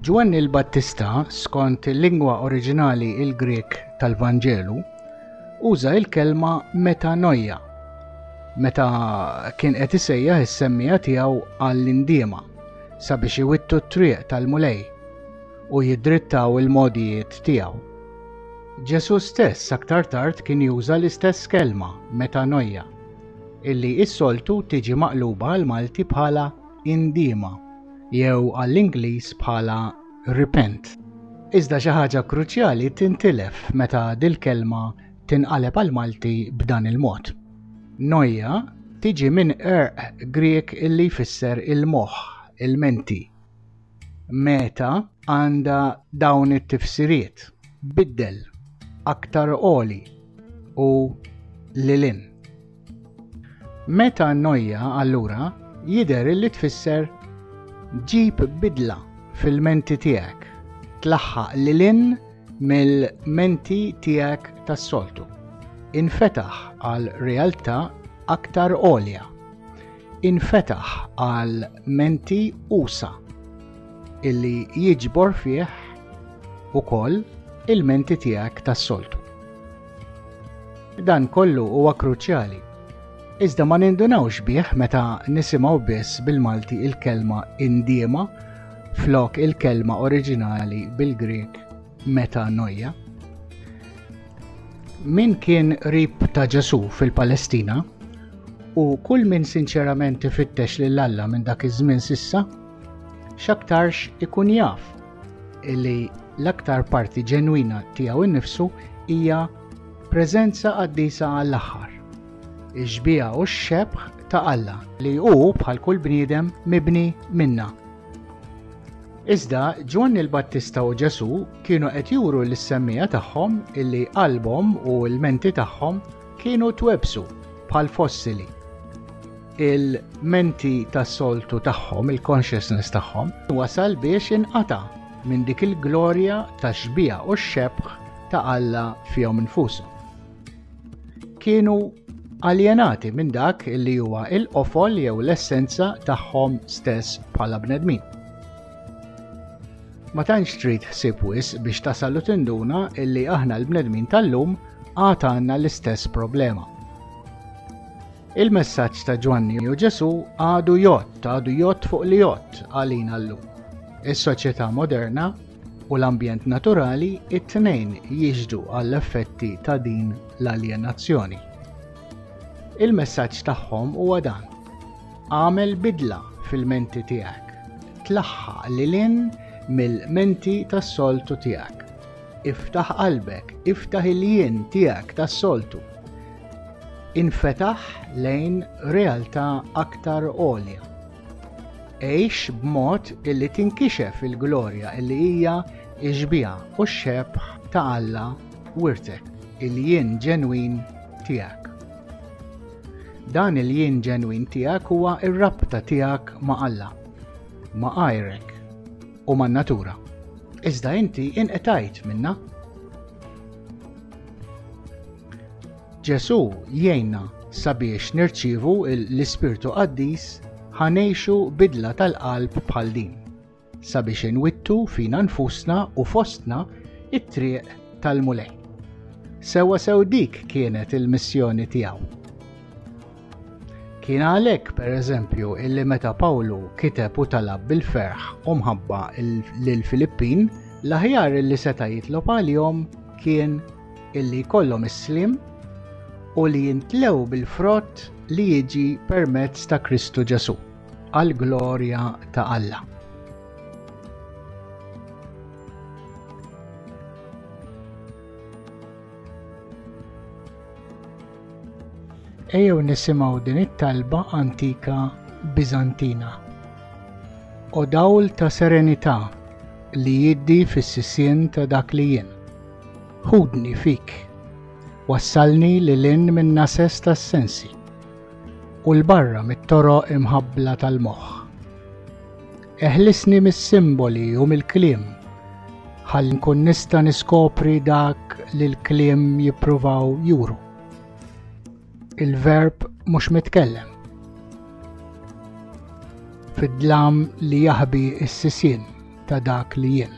Ġwanni l-Battista, skont il-lingwa oriġinali il-Grek tal-Vanġelu, uża il-kelma metanoia meta kien qed isejjaħ is-semmija tiegħu għall-indiema sabiex iwittu t-triq tal-Mulej. u jiddrittaw il-mogħdijiet tiegħu. Ġesù stess aktar tard kien juża l-istess kelma, metanoia, illi is-soltu tiġi maqluba għal Malti bħala indiema jew għall-Ingliż bħala repent. Iżda xi ħaġa kruċjali tintilef meta dil-kelma tinqaleb għal Malti b'dan il-mod. Noja tiġi minn erq Grieg illi jfisser il-moħħ, il-menti. Meta għandha dawn it-tifsiriet biddel aktar oli u lilin. Meta nojja allura jidher li tfisser ġib bidla fil-menti tiegħek, tlaħħaq lilin mill-menti tiegħek tas-soltu. Infetaħ għal realtà aktar għolja. infetaħ għal menti usa illi jiġbor fih ukoll il-menti tiegħek tas-soltu. Dan kollu huwa kruċjali. Iżda ma nindunawx bih meta nisimgħu biss bil-Malti il-kelma indiema flok il-kelma oriġinali bil-Grek Meta Noja. Min kien rib ta' Ġesu fil-Palestina u kull min sinċerament ifittex lil Alla minn dak iż-żmien sissa, x'aktarx ikun jaf li l-aktar parti ġenwina tiegħu nnifsu hija preżenza qaddisa għall-aħħar. Ix-xbieha u x-xebħ ta' Alla li hu bħal kull bniedem mibni minna Iżda Ġwanni l-Battista u Ġesù kienu qed juru lis-semmiegħa tagħhom illi qalbhom u l-menti tagħhom kienu twebsu bħal fossili. Il-menti tas-soltu tagħhom, il-consciousness tagħhom, wasal biex inqata' minn dik il-glorja tax-xbieha u x-xebħ ta' Alla fihom infushom. kienu aljenati minn dak li huwa il-qofol jew l-essenza tagħhom stess bħala bnedmin. Ma tantx trid ħsieb wis biex tasal u tinduna illi aħna l-bnedmin tal-lum għad għandna l-istess problema. Il-messaġġ ta' Ġwanni u Ġesu għadu jott, għadu jott fuq li jott għalina llum. Is-soċjetà moderna u l-ambjent naturali it-tnejn jixhdu għall-effetti ta' din l-aljenazzjoni. Il-messaġġ tagħhom huwa dan. Għamel bidla fil-menti tiegħek. Tlaħħa lil in mill-menti tas-soltu tiegħek. Iftaħ qalbek, iftaħ il-jien tiegħek tas-soltu. Infetaħ lejn realtà aktar għolja. Għix b'mod illi tinkixef il-glorja illi hija x-xbieha u x-xebħ ta' Alla wirtek, il-jien ġenwin tiegħek. Dan il-jien ġenwin tiegħek huwa r-rabta tiegħek ma' Alla, ma' għajrek u man natura. Iżda inti inqetajt minna. Ġesù jgħinna sabiex nirċievu l-Ispirtu Qaddis ħa ngħixu bidla tal-qalb bħal din, sabiex inwittu fina nfusna u fostna it-triq tal-Mulej. Sewa sew dik kienet il-missjoni tiegħu. Kien għalhekk pereżempju illi meta Pawlu kiteb u talab bil-ferħ u mħabba lil Filippin, l-aħjar illi seta' jitlob għalihom kien illi jkollhom is-sliem u li jintlew bil-frott li jiġi permezz ta' Kristu Ġesù, għall-glorja ta' Alla. Ejjew nisimgħu din it-talba antika Bizantina. O dawl ta' serenità li jiddi fis-sisien ta' dak li jien. Ħudni fik, wassalni lil hinn min-nases tas-sensi u 'l barra mit-toroq imħabbla tal-moħħ. Eħlisni mis-simboli u mill-kliem ħalli nkun nista' niskopri dak li l-kliem jippruvaw juru. Il-verb mhux mitkellem. Fid-dlam li jaħbi s-sisien ta' dak li jien.